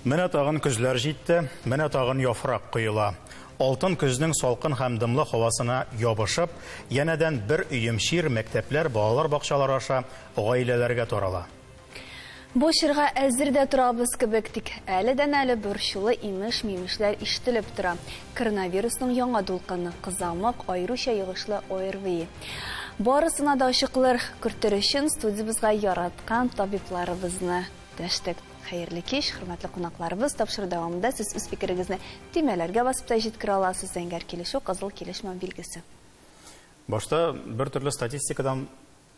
Менә тагын көзләр җитте, менә тагын яфрак коела. Алтын көзнең салкын һәм дымлы һавасына ябышып, янәдән бер өем чир мәктәпләр, балалар бакчалары аша гаиләләргә тарала. Бу чорга әзер дә торабыз кебек, тик әледән-әле борчулы имеш-мимешләр ишетелеп тора. Коронавирусның яңа дулкыны, кызамык, аеруча йогышлы ОРВИ. Барысына да ачыклыр кертер өчен студиябезгә яраткан табибларыбызны дәштек. Хәерле кич, хөрмәтле кунакларыбыз! Тапшыру дәвамында сез үз фикерегезне төймәләргә басып та җиткерә аласыз, зәңгәр килешү, кызыл килешмәү билгесе. Башта бер төрле статистикадан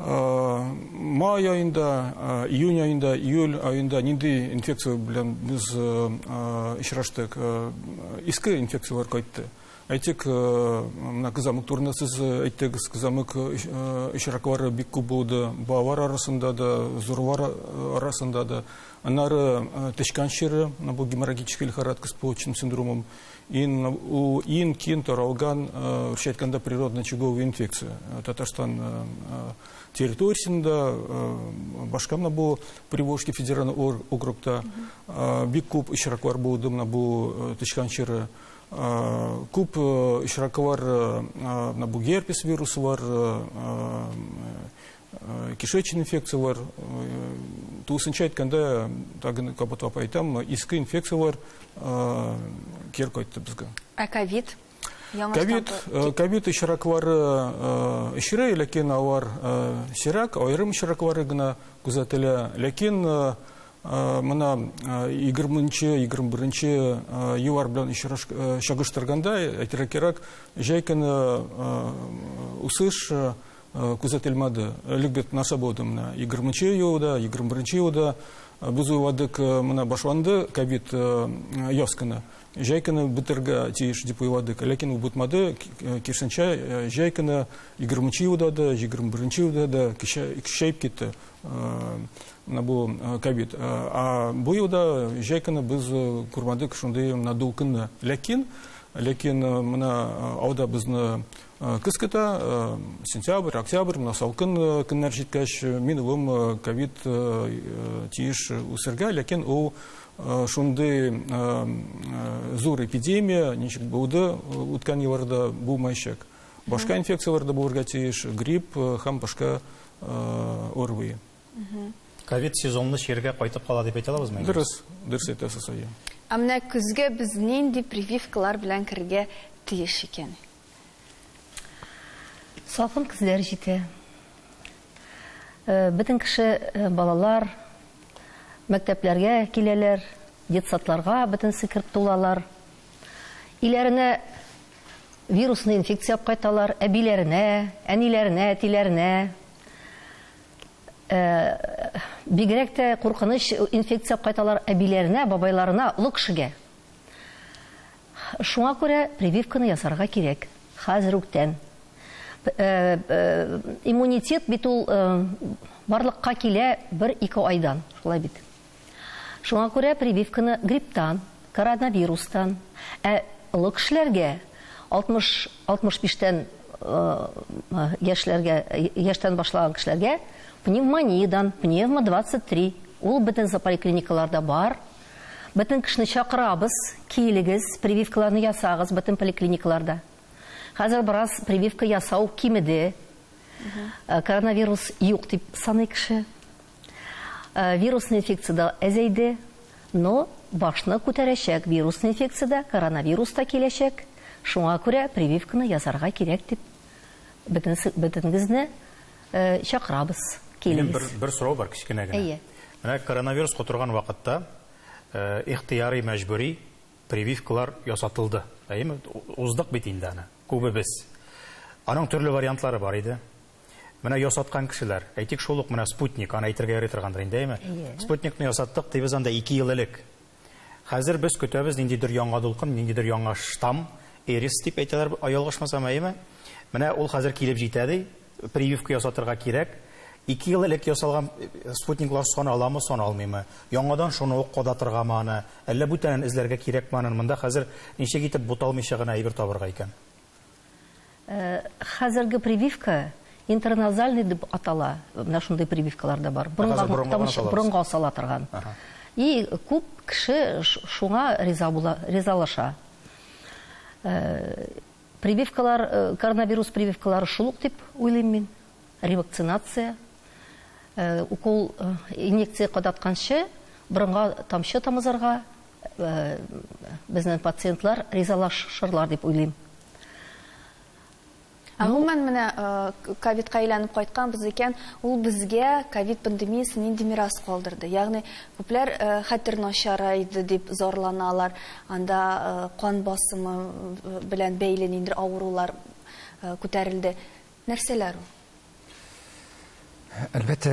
Май айында, июнь айында, июль айында нинди инфекция белән без очраштык? Иске инфекцияләр кайтты. Әйтик, менә кызамык турында сез әйттегез. Кызамык очраклары бик күп булды. Балалар арасында да, зурлар арасында да. Аннары тычкан чире, бу геморрагический лихорадка с почечным синдромом. Ин у ин кин таралган шетканда природный чугов инфекция Татарстан территориясендә башка менә бу Приволжский федеральный округта бик күп очраклар булды менә бу тычкан чиры күп очраклар менә бу герпес вирусы бар Э, кишечный инфекциялар э, тулысынча әйткәндә тагын кабатлап әйтәм иске инфекциялар э, кер кайтты безгә ә ковид ковид ковид очраклары очрый ләкин алар сирәк аерым очраклары гына күзәтелә ләкин мына егерменче егерме беренче еллар белән чагыштырганда әйтергә кирәк җәй көне үсеш күзәтелмәде. Элек бит нәрсә булды менә? 20 нче елда, 21 нче елда без уйладык, менә башланды ковид яз көне. Җәй көне бетергә тиеш дип уйладык. Ләкин ул бутмады, кирсенчә, җәй көне 20 нче елда да, 21 нче елда да көчәеп китте менә бу ковид. А бу елда җәй көне без күрмәдек шундый надул көнне. Ләкин, ләкин менә алда безне Э, көз көтә э, сентябрь октябрь мына салкын э, көннәр җиткәч мин улым ковид тиеш үсергә ләкин ул шундый зур эпидемия ничек булды үткән елларда булмаячак башка инфекцияләр дә булырга тиеш грипп һәм башка орви ковид сезонны чиргә кайтып кала дип әйтә алабызмы дөрес дөрес әйтәсез әйе ә менә көзгә без нинди прививкалар белән керергә тиеш икән Салкын көзләр җитә. Бөтен кеше, балалар мәктәпләргә киләләр, детсадларга бөтенесе кереп тулалар. Өйләренә вирусный инфекция алып кайталар, әбиләренә, әниләренә, әтиләренә. Бигрәк тә куркыныч инфекция алып кайталар әбиләренә, бабайларына, олы кешегә. Шуңа күрә прививканы ясарга кирәк. Хәзер үктән. Иммунитет бит ул барлыкка килә бер-ике айдан, шулай бит. Шуңа күрә прививканы грипптан, коронавирустан, ә олы кешеләргә, 60, 65 тән яшьләргә, яшьтән башлаган кешеләргә пневмониядән, пневмо 23, ул бөтен зополиклиникаларда бар, Бөтен кешене чакырабыз, килегез, прививкаларны ясагыз бөтен поликлиникаларда. Хәзер бераз прививка ясау кимеде. Э, коронавирус юк дип саный кеше. Э, вирусный инфекция да әзәйде, но башны күтәрәчәк вирусный инфекция да, коронавирус та киләчәк. Шуңа күрә прививканы ясарга кирәк дип бөтенегезне Э, чакырабыз, килегез. Бер, бер сорау бар, кечкенә генә. Әйе. Менә коронавирус котырган вакытта э, ихтыярый мәҗбүри прививкалар ясатылды. Әйеме? Уздык бит инде аны. Күбебез. Аның төрле вариантлары бар иде. Менә ясаткан кешеләр, әйтик шул ук менә спутник, аны әйтергә яратыргандыр инде, әйеме? Спутникны ясаттык, дибез анда 2 ел элек. Хәзер без көтәбез ниндидер яңа дулкын, ниндидер яңа штамм, эрис дип әйтәләр, ялгышмасам, әйеме? Менә ул хәзер килеп җитә, ди. Прививка ясатырга кирәк. Ике ел элек ясалган спутниклар саналамы, саналмыймы? Яңадан шуны ук кадатыргамы аны? Әллә бүтәнен эзләргә кирәкме аны? Монда хәзер ничек итеп буталмыйча гына әйбер табырга икән? Хәзерге прививка интраназальный дип атала. Менә шундый прививкалар да бар. Борынга асала торган. И күп кеше шуңа риза була, ризалаша. Прививкалар, коронавирус прививкалары шул ук дип уйлыйм мин. Ревакцинация, укол, инъекция кадатканчы борынга тамчы тамызырга безнең пациентлар ризалашырлар дип уйлыйм. Ә гомумән менә ковидка әйләнеп кайтканбыз икән, ул безгә ковид пандемиясе нинди мирас калдырды? Ягъни күпләр хәтер начарайды дип зарланалар, анда кан басымы белән бәйле ниндидер авырулар күтәрелде. Нәрсәләр ул? Әлбәттә,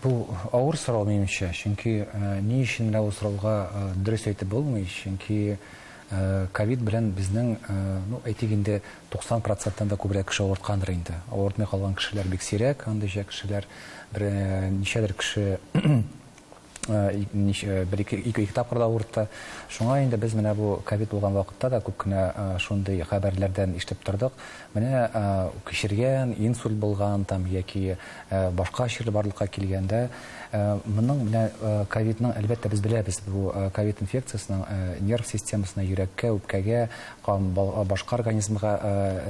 бу авыр сорау, минемчә. Чөнки ни өчен менә бу сорауга дөрес әйтеп булмый, чөнки ковид белән безнең, ну, әйтик инде, 90 проценттан да күбрәк кеше авырткандыр инде. Авыртмый калган кешеләр бик сирәк, андыйча кешеләр, бер ничәдер кеше, бер-ике ике тапкыр да авыртты. Шуңа инде без менә бу ковид булган вакытта да күп кенә шундый хәбәрләрдән ишетеп тордык. Менә кичергән, инсульт булган там яки башка чир барлыкка килгәндә, моның белән ковидның, әлбәттә, без беләбез, бу ковид инфекциясенең нерв системасына, йөрәккә, үпкәгә, кан, башка организмга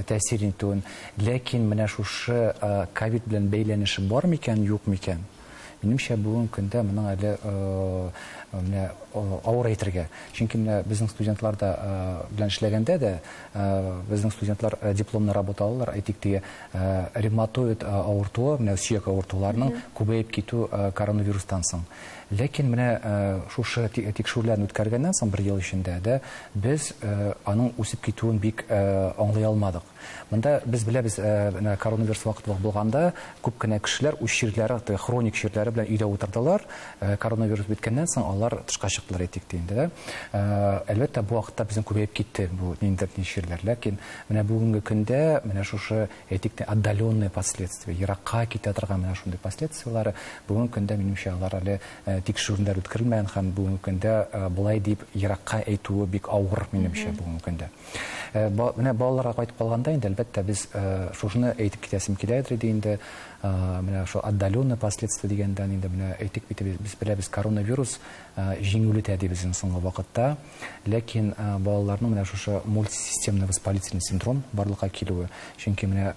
тәэсир итүен, ләкин менә шушы ковид белән бәйләнеше бар микән, юк микән? Минемчә, бүген көндә моның әле менә авыр әйтергә. Чөнки менә безнең студентлар да белән эшләгәндә дә, безнең студентлар дипломны работа алалар, әйтик, теге ревматоид авыртуы, менә сөяк авыртуларының күбәеп китү коронавирустан соң. Ләкин менә шушы тикшерүләрне үткәргәннән соң бер ел эчендә дә без аның үсеп китүен бик аңлый алмадык. Монда без беләбез, менә коронавирус вакыты булганда, күп кенә кешеләр үз чирләре, теге хроник чирләре белән өйдә утырдылар. Коронавирус беткәннән соң алар тышка чыктылар әйтик тә инде, ә. Әлбәттә, бу вакытта безнең күбәеп китте бу ниндидер ни чирләр. Ләкин менә бүгенге көндә менә шушы, әйтик тә, отдаленные последствия, еракка китә торган менә шундый последствияләре, бүгенге көндә, минемчә, алар әле тикшерүләр үткәрелмәгән һәм бүгенге көндә болай дип еракка әйтүе бик авыр, минемчә, бүгенге көндә. Э, менә балаларга кайтып калганда инде әлбәттә без э, шушыны әйтеп китәсем килә иде инде э, менә шул отдаленный последствия дигәндән инде менә әйтик бит без беләбез коронавирус җиңүле тәдибез иң соңгы вакытта ләкин балаларның менә шушы мультисистемный воспалительный синдром барлыкка килүе чөнки менә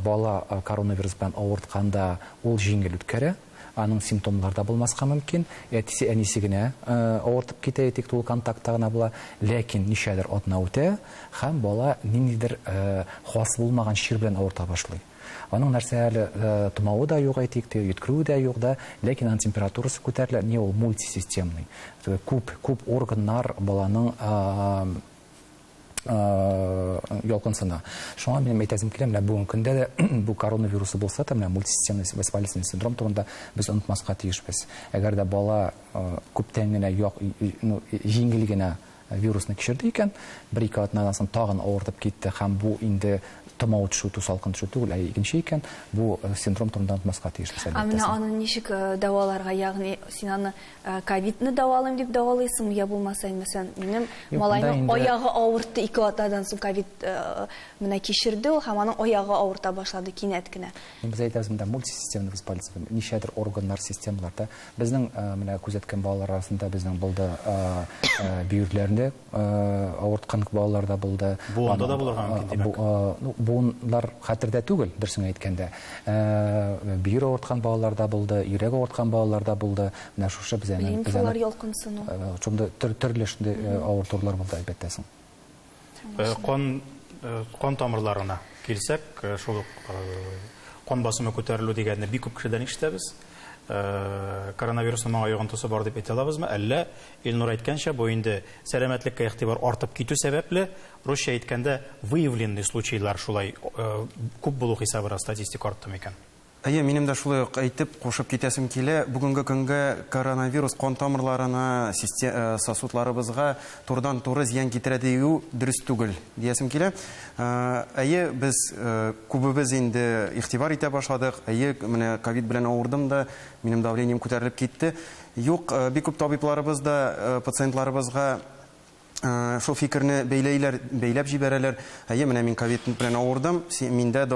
бала коронавирус белән авыртканда ул җиңел үткәрә Аның симптомнар да булмаска мөмкин, әтисе, әнисе генә авыртып китә, әйтик, тулы контактта гына була, ләкин ничәдер атна үтә һәм бала ниндидер хас булмаган чир белән авырта башлый. Аның нәрсә әле томавы да юк, әйтик, теге йөткерүе дә юк да, ләкин аның температурасы күтәрелә, не ул мультисистемный, күп, күп органнар баланың ялкынсына. Шуңа минем әйтәсем килә, менә бүгенге көндә дә бу коронавирусы булса да, менә мультисистемный воспалительный синдром турында без онытмаска тиешбез. Әгәр дә бала күптән генә ну, җиңел генә вирусны кичерде икән, бер-ике атнадан соң тагын авыртып китте һәм бу инде томау төшү, тусалкын төшү түгел, ә икенче икән, бу синдром турында онытмаска тиешбез әлбәттә. Ә менә аны ничек дәваларга, ягъни син аны Ә, ковидны дәвалыйм дип дәвалыйсыңмы, я булмаса инде сен, минем Юк, малайның инде... аягы авыртты ике атнадан соң ковид э, менә кичерде ул һәм аның аягы авырта башлады кинәт кенә. Без әйтәбез монда мультисистемный воспалительный, ничәдер органнар, системаларда. Безнең э, менә күзәткән балалар арасында безнең булды э, э, бөерләрендә авырткан балалар да булды. Буында да булырга мөмкин, димәк. Буыннар хәтердә түгел, дөресен әйткәндә. Бөер авырткан балалар да булды, йөрәк авырткан балалар да булды. Менә шушы безгә лимфалар ялкынсыну. Шундый төрле шундый авыртулар булды, әлбәттә соң. Кан кан тамырларына килсәк, шул ук кан басымы күтәрелү дигәнне бик күп кешедән ишетәбез. Коронавирусның моңа йогынтысы бар дип әйтә алабызмы, әллә Илнур әйткәнчә, бу инде сәламәтлеккә игътибар артып китү сәбәпле, русча әйткәндә, выявленный случайлар шулай күп булу хисабына статистика артты микән? Әйе, минем дә шулай ук әйтеп, кушып китәсем килә. Бүгенге көнгә коронавирус кан тамырларына, систе сосудларыбызга турыдан-туры зыян китерә дию дөрес түгел, диясем килә. Әйе, без күбебез инде игътибар итә башладык. Әйе, менә ковид белән авырдым да, минем давлением күтәрелеп китте. Юк, бик күп табибларыбыз да пациентларыбызга шул фикерне бәйләйләр, бәйләп җибәрәләр, әйе, менә мин ковид белән авырдым, миндә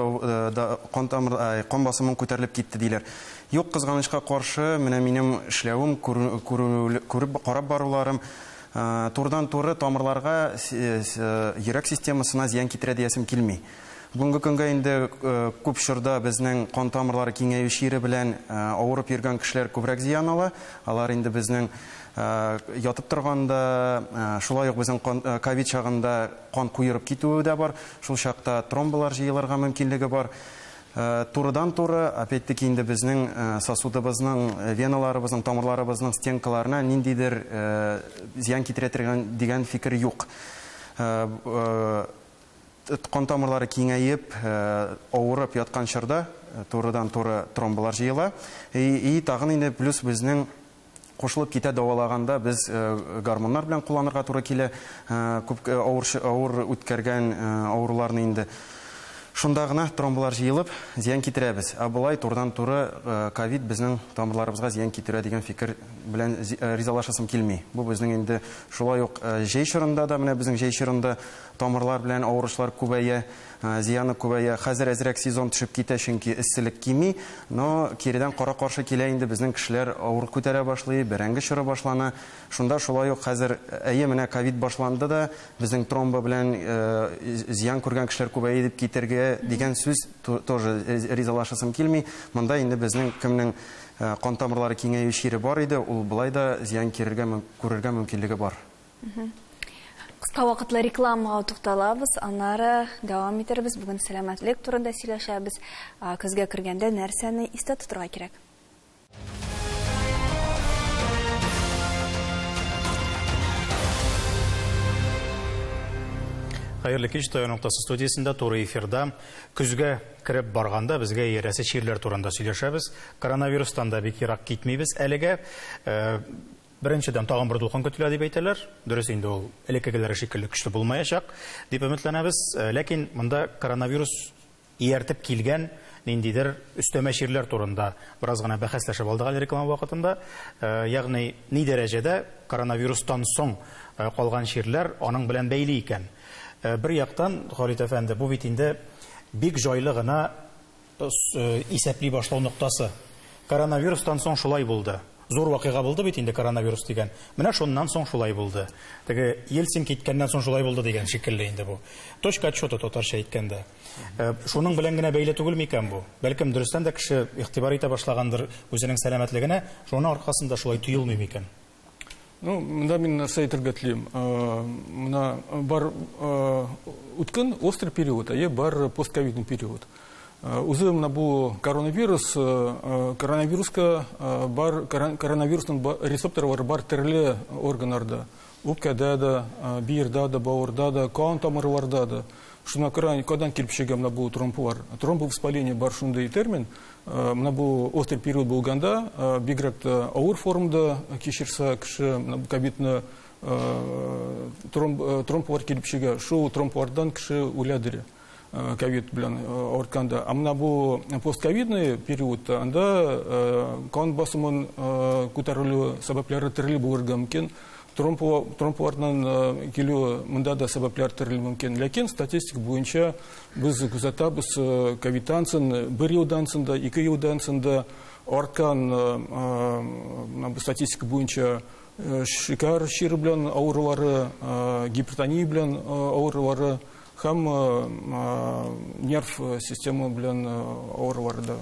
кан тамыр, кан басымым күтәрелеп китте, диләр. Юк, кызганычка каршы, менә минем эшләвем, күреп, карап баруларым турыдан-туры тамырларга, йөрәк системасына зыян китерә диясем килми. Бүгенге көнгә инде күп чорда безнең кан тамырлары киңәю чире белән авырып йөргән кешеләр күбрәк зыян ала. Алар инде безнең ятып торганда, шулай ук безнең кан ковид чагында кан куерып китүе дә бар. Шул чакта тромболар җыелырга мөмкинлеге бар. Турыдан-туры, опять-таки, инде безнең сосудыбызның, веналарыбызның, тамырларыбызның стенкаларына ниндидер зыян китерә торган дигән фикер юк. Кан тамырлары киңәеп, авырып яткан чорда турыдан-туры тромбылар җыела. И, тагын инде плюс безнең кушылып китә дәвалаганда без гормоннар белән кулланырга туры килә. Күп авыр, авыр үткәргән авыруларны инде. Шунда гына тромбылар җыелып, зыян китерәбез. Ә болай турыдан-туры ковид безнең тамырларыбызга зыян китерә дигән фикер белән ризалашасым килми. Бу безнең инде шулай ук җәй чорында да, менә безнең җәй чорында, Тамырлар белән авыручылар күбәя, зыяны күбәя. Хәзер әзрәк сезон төшеп китә, чөнки эсселек кими. Но киредән кара-каршы килә инде, безнең кешеләр авыр күтәрә башлый, бәрәңге чоры башлана. Шунда шулай ук хәзер, әйе, менә ковид башланды да, безнең тромбы белән зыян күргән кешеләр күбәя дип китергә дигән сүз тоже ризалашасым килми. Монда инде безнең кемнең кан тамырлары киңәю чире бар иде, ул болай да зыян кирергә, күрергә мөмкинлеге бар. Кыска вакытлы рекламага тукталабыз, аннары дәвам итербез. Бүген сәламәтлек турында сөйләшәбез. Көзгә кергәндә нәрсәне истә тотырга кирәк? Хәерле кич, Таян ноктасы студиясендә туры эфирда. Көзгә кереп барганда безгә иярәсе чирләр турында сөйләшәбез. Коронавирустан да бик ерак китмибез әлегә. Э, Беренчедән, тагын бер дулкын көтелә дип әйтәләр. Дөрес инде, ул элеккегеләре шикелле көчле булмаячак, дип өметләнәбез. Ләкин монда коронавирус ияртеп килгән ниндидер өстәмә чирләр турында бераз гына бәхәсләшеп алдык әле реклама вакытында. Ягъни, ни дәрәҗәдә коронавирустан соң калган чирләр аның белән бәйле икән? Бер яктан, Халит әфәнде, бу бит инде бик җайлы гына Исәпли башлау ноктасы. Коронавирустан соң шулай булды. Зур вакыйга булды бит инде коронавирус дигән. Менә шуннан соң шулай булды. Теге Ельцин киткәннән соң шулай булды дигән шикелле инде бу. Точка отчета татарча әйткәндә. Э, шуның белән генә бәйле түгел микән бу? Бәлкем дөрестән дә кеше игътибар итә башлагандыр үзенең сәламәтлегенә, шуның аркасында шулай тоелмый микән? Ну, мында мин нәрсә әйтергә телим. Мына бар үткен острый период, әйе, бар постковидный период. Үзе мына бу коронавирус, коронавируска бар коронавирусның рецепторлары бар төрле органнарда. Үпкәдә дә, биердә дә, бавырда да, кан тамырларда да. Шуна күрә никадан килеп чыга мына бу тромб бар. Тромбовоспаление бар шундый термин. Э, мына бу острый период булганда э, бигрәк тә авыр формда кичерсә кеше ковидны э, тромб килеп чыга шул тромбвардан кеше үләдер ковид белән авыртканда а мына бу постковидный периодта анда кан басымын күтәрелү сәбәпләре төрле булырга мөмкин Тромбуларның килүе монда да сәбәпләр төрле мөмкин. Ләкин статистика буенча без күзәтәбез, кавитансын бер елдан соң да, ике елдан соң да арткан бу статистика буенча шикәр чире белән авырулары, гипертония белән авырулары Һәм нерв система белән авырулар да.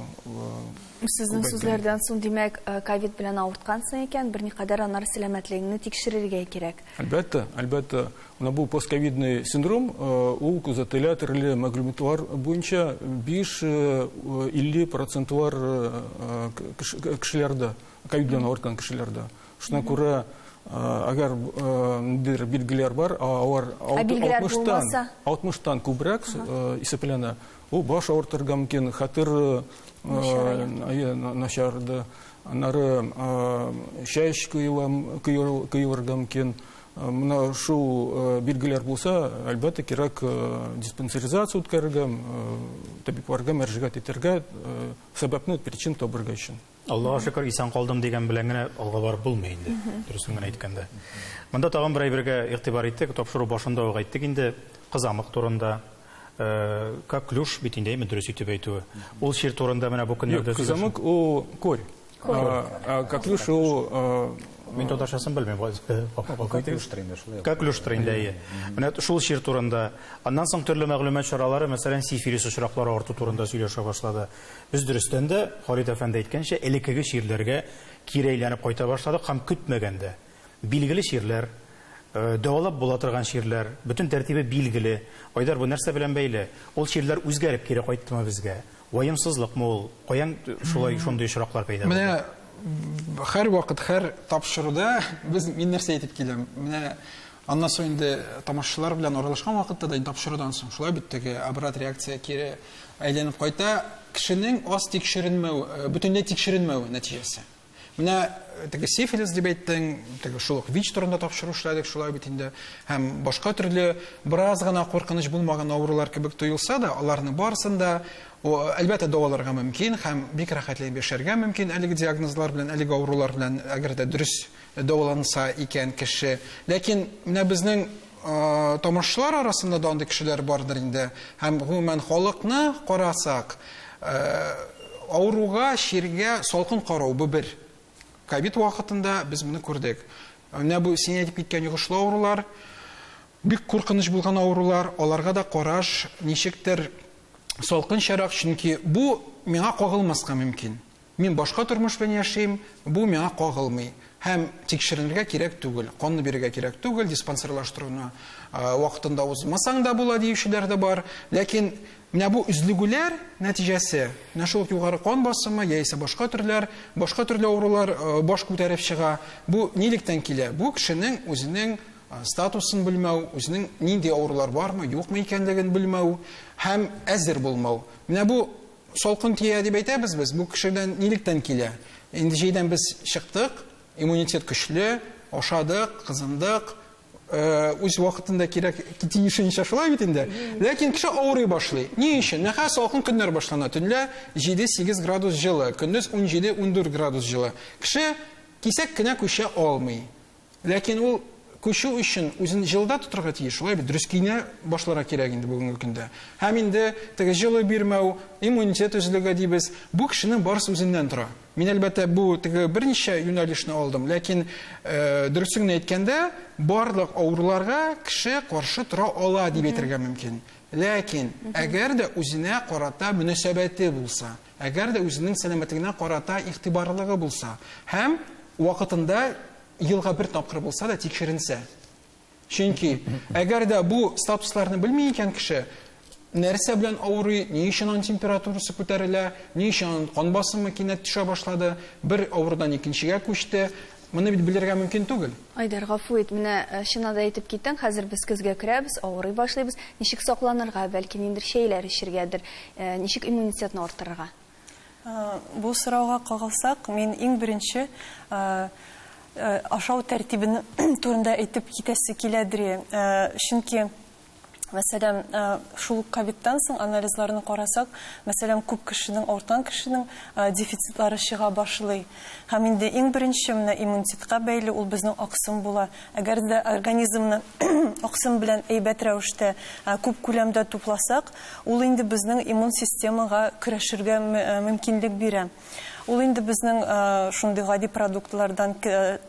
Сезнең сүзләрдән соң, димәк, ковид белән авырткансың икән, берникадәр аннары сәламәтлегеңне тикшерергә кирәк. Әлбәттә, әлбәттә. Менә бу постковидный синдром, ул күзәтелә төрле мәгълүматлар буенча 5-50 процентлар кешеләрдә, ковид белән авырткан кешеләрдә. Шуна күрә, әгәр ниндидер билгеләр бар, алар 60-тан 60-тан күбрәк исәпләнә, ул баш авыртырга мөмкин, хәтер начарды, аннары чәч коелырга мөмкин. Менә шул билгеләр булса, әлбәттә, кирәк диспансеризация үткәрергә, табибларга мөрәҗәгать итәргә, сәбәпне, причина табарга өчен. Аллага шөкер, исән калдым дигән белән генә алга барып булмый инде, дөресен генә әйткәндә. Монда тагын бер әйбергә игътибар иттек, тапшыру башында ук әйттек инде, кызамык турында, э, коклюш бит инде, әйме, дөрес итеп әйтүе. Ул чир турында менә бу көннәрдә Юк, кызамык ул корь. Э, коклюш ул э, Мин татарчасын белмим. Коклюштыр инде шулай. Коклюштыр инде, әйе. Менә шул чир турында. Аннан соң төрле мәгълүмат чаралары, мәсәлән, сифилис очраклары арту турында сөйләшә башлады. Без дөрестән дә, Фарит әфәнде әйткәнчә, элеккеге чирләргә кире әйләнеп кайта башладык һәм көтмәгәндә, билгеле чирләр, дәвалап була торган чирләр, бөтен тәртибе билгеле. Айдар, бу нәрсә белән бәйле? Ул чирләр үзгәреп кире кайттымы безгә? Ваемсызлыкмы ул? Каян шулай шундый очраклар пәйда булды? Менә һәрвакыт, һәр тапшыруда без, мин нәрсә әйтеп киләм, менә Аннан соң инде тамашачылар белән аралашкан вакытта да тапшырудан соң шулай бит теге обрат реакция кире әйләнеп кайта кешенең аз тикшеренмәү э, бөтенләй тикшеренмәү нәтиҗәсе менә э, теге сифилис дип әйттең теге шул ук вич турында тапшыру эшләдек шулай бит инде һәм башка төрле бераз гына куркыныч булмаган авырулар кебек тоелса да аларның барысын да әлбәттә дәваларга мөмкин һәм бик рәхәтләнеп яшәргә мөмкин әлеге диагнозлар белән әлеге авырулар белән әгәр дә дөрес дәваланса икән кеше. Ләкин менә безнең тамашчылар арасында да андый кешеләр бардыр инде. Һәм гомумән халыкны карасак, авыруга, чиргә салкын карау бу бер. Ковид вакытында без моны күрдек. Менә бу син әйтеп киткән йогышлы авырулар, бик куркыныч булган авырулар, аларга да караш ничектер салкынчарак, чөнки бу миңа кагылмаска мөмкин. Мин башка тормыш белән яшим, бу миңа кагылмый һәм тикшеренергә кирәк түгел, канны бирергә кирәк түгел, диспансерлаштыруны вакытында узмасаң да була диючеләр дә бар. Ләкин менә бу өзлегүләр нәтиҗәсе, менә шул югары кан басымы яисә башка төрләр, башка төрле авырулар баш күтәреп чыга. Бу нилектән килә? Бу кешенең үзенең статусын белмәү, үзенең нинди авырулар бармы, юкмы икәнлеген белмәү һәм әзер булмау. Менә бу Салкын тия дип әйтәбез без, бу кешедән нилектән килә? Инде җәйдән без чыктык, иммунитет көчле, ашадык, кызындык, Э, үз вакытында кирәк тиешенчә шулай бит инде ләкин кеше авырый башлый ни өчен нәһә салкын көннәр башлана төнлә 7-8 градус җылы көндез 17-14 градус җылы кеше кисәк кенә күчә алмый Ләкин ул күчү өчен үзен җылыда тотарга тиеш, шулай бит, дөрес киенә башларга кирәк инде бүгенге көндә. Һәм инде теге җылы бирмәү, иммунитет өзлеге дибез, бу кешенең барысы үзеннән тора. Мин, әлбәттә, бу теге берничә юнәлешне алдым, ләкин дөресен генә әйткәндә, барлык авыруларга кеше каршы тора ала дип әйтергә мөмкин. Ләкин әгәр дә үзенә карата мөнәсәбәте булса, Әгәр дә үзенең сәламәтлегенә карата игътибарлылыгы булса һәм вакытында елга бер тапкыр булса да тикшеренсә. Чөнки әгәр дә бу статусларны белми икән кеше, нәрсә белән авырый, ни өчен аның температурасы күтәрелә, ни өчен аның кан басымы кинәт төшә башлады, бер авырудан икенчегә күчте, Моны бит белергә мөмкин түгел. Айдар, гафу ит, менә чына да әйтеп киттең, хәзер без көзгә керәбез, авырый башлыйбыз. Ничек сакланырга, бәлки ниндер чәйләр эчергәдер, ничек иммунитетны арттырырга? Бу сорауга кагылсак, мин иң беренче ашау тәртибен турында әйтеп китәсе килә, Дри. Чөнки Мәсәлән, шул ук ковидтан соң анализларны карасак, мәсәлән, күп кешенең, артан кешенең дефицитлары чыга башлый. Һәм инде иң беренче менә иммунитетка бәйле ул безнең аксым була. Әгәр дә организмны аксым белән әйбәт рәвештә, күп күләмдә тупласак, ул инде безнең иммун системага көрәшергә мөмкинлек бирә. Ул инде безнең шундый гади продуктлардан,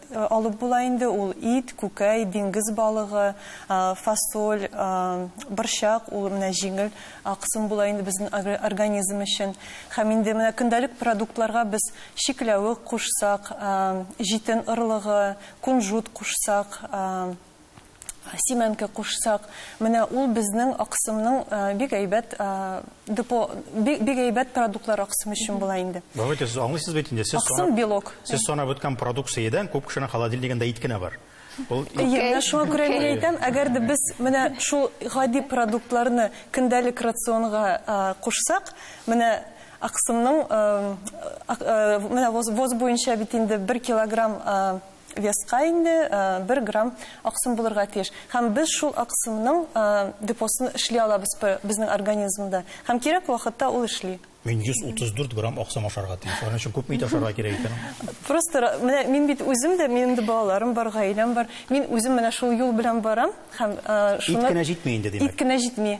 Алып була инде ул ит, күкәй, диңгез балыгы, фасоль, борчак, ул менә җиңел аксым була инде безнең организм өчен. Һәм инде менә көндәлек продуктларга без чикләвек кушсак, җитен орлыгы, кунжут кушсак, Симәнке кушсак, менә ул безнең аксымның бик әйбәт депо, бик әйбәт продуктлар аксым өчен була инде. Давайте, сез аңлыйсыз бит инде, сез санап... Аксым белок. Сез санап үткән продукциядән күп кешенең холодильнигында ит кенә бар. Ул ит... Әйе, менә шуңа күрә мин әйтәм, әгәр дә без менә шул гади продуктларны көндәлек рационга кушсак, менә аксымның, менә воз буенча бит инде бер килограмм Веска инде бер грамм аксым булырга тиеш. Һәм без шул аксымның депосын эшли алабыз безнең организмда. Һәм кирәк вакытта ул эшли. Мин 134 грамм аксым ашарга тиеш. Аның өчен күпме ит ашарга кирәк икән? Просто менә мин бит үзем дә, минем дә балаларым бар, гаиләм бар. Мин үзем менә шул юл белән барам һәм шуны Ит кенә җитми инде, димәк. Ит кенә җитми.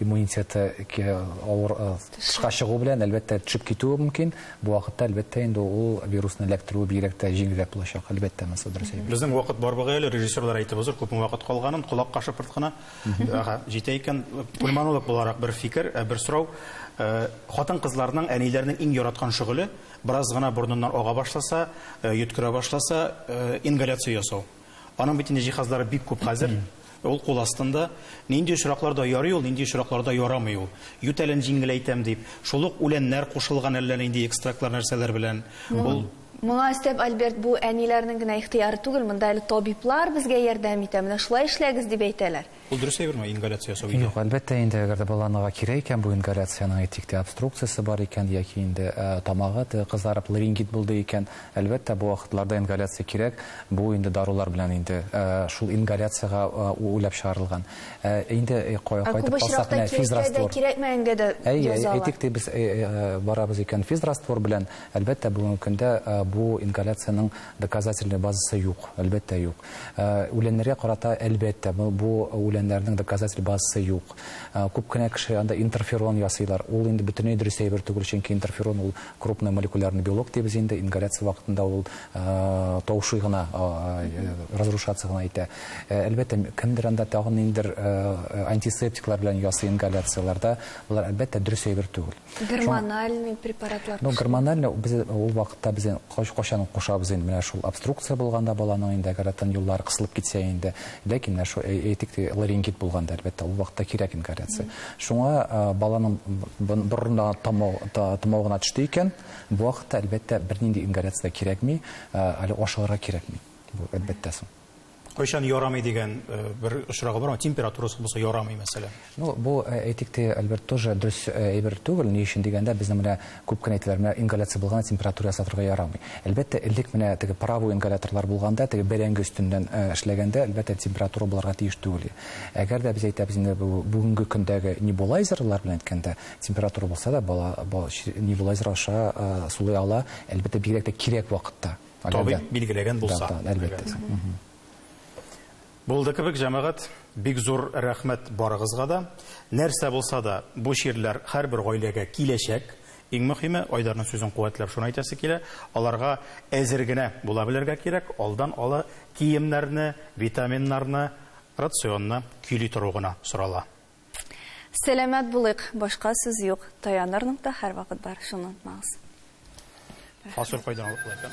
Иммунитеты авыр тышка чыгу белән, әлбәттә, төшеп китүе мөмкин. Бу вакытта, әлбәттә, инде ул вирусны эләктерүе бигрәк тә җиңелрәк булачак, әлбәттә, монысы дөрес әйбер. Безнең вакыт бар бугай әле, режиссерлар әйтеп узыр, күпме вакыт калганын, колак кашыпырт кына. Ага, җитә икән. Кульманолог буларак бер фикер, ә бер сорау. Хатын-кызларның, әниләрнең иң яраткан шөгыле, бераз гына борыннан ага башласа, йөткерә башласа, ингаляция ясау. Аның бит инде җиһазлары бик күп хәзер. Ул кул астында. Нинди очракларда ярый ул, нинди очракларда ярамый ул. Ютәлен җиңеләйтәм дип. Шул ук үләннәр кушылган әллә нинди экстрактлар нәрсәләр белән. Ул Моңа өстәп, Альберт, бу әниләрнең генә ихтыяры түгел, монда әле табиблар безгә ярдәм итә, менә шулай эшләгез дип әйтәләр. Ул дөрес әйберме, ингаляция ясау өйдә? Юк, әлбәттә инде, әгәр дә баланырга кирәк икән бу ингаляциянең, әйтик тә, обструкциясе бар икән яки инде тамагы кызарып, ларингит булды икән, әлбәттә, бу вакытларда ингаляция кирәк. Бу инде дарулар белән инде шул ингаляциягә уйлап чыгарылган. Ә инде кайтып калсак, менә физраствор. Әйе, әйтик тә, без барабыз икән физраствор белән, әлбәттә, бүгенге көндә бу ингаляциянең, Доказательный базасы юк, әлбәттә юк. Үләннәргә карата, әлбәттә, бу үләннәрнең доказатель базасы юк. Күп кенә кеше анда интерферон ясыйлар. Ул инде бөтенләй дөрес әйбер түгел, чөнки интерферон ул крупно молекулярный белок дибез инде, ингаляция вакытында ул таушый гына, разрушаться гына итә. Әлбәттә, кемдер анда тагын ниндидер антисептиклар белән ясый ингаляцияләрдә, болар, әлбәттә, дөрес әйбер түгел. Гормональ препаратлар кушылды. Ну, гормональ без ул вакытта без кайчан кушабыз инде, менә шул обструкция булганда баланың инде горатын юллары кысылып китсә инде, ләкин менә шул әйтик, ларингит булганда, әлбәттә, ул вакытта кирәк инде горация. Шуңа баланың борынына томау гына төште икән, бу вакытта, әлбәттә, бернинди горация дә кирәкми, әле ашыгырга кирәкми. Бу, әлбәттә, соң. Кайчан ярамый дигән э, бер очрагы бар, температурасы булса ярамый мәсәлән. Ну, бу э, әйтик те, Альберт тоже дөрес э, әйбер түгел. Ни өчен дигәндә, безнең менә күп кенә әйтәләр, менә ингаляция булган температура ясатырга ярамый. Әлбәттә, элек менә теге паровой ингаляторлар булганда, теге бәрәңге өстеннән эшләгәндә, әлбәттә, температура буларга тиеш түгел. Әгәр дә без әйтәбез инде бүгенге көндәге небулайзерлар белән әйткәндә, температура булса да, бала, бала небулайзер аша сулый ала, әлбәттә, бигрәк тә кирәк вакытта. Табиб билгеләгән булса. Да, да, әлбәттә. Булды кебек, җәмәгать, бик зур рәхмәт барыгызга да. Нәрсә булса да, бу чирләр һәрбер гаиләгә киләчәк. Иң мөһиме, Айдарның сүзен куәтләп шуны әйтәсе килә, аларга әзер генә була белергә кирәк, алдан ала киемнәрне, витаминнарны, рационны көйли тору гына сорала. Сәламәт булыйк, башка сүз юк. Таяныр нокта һәрвакыт бар, шуны онытмагыз. Фасоль кайдан алып була икән?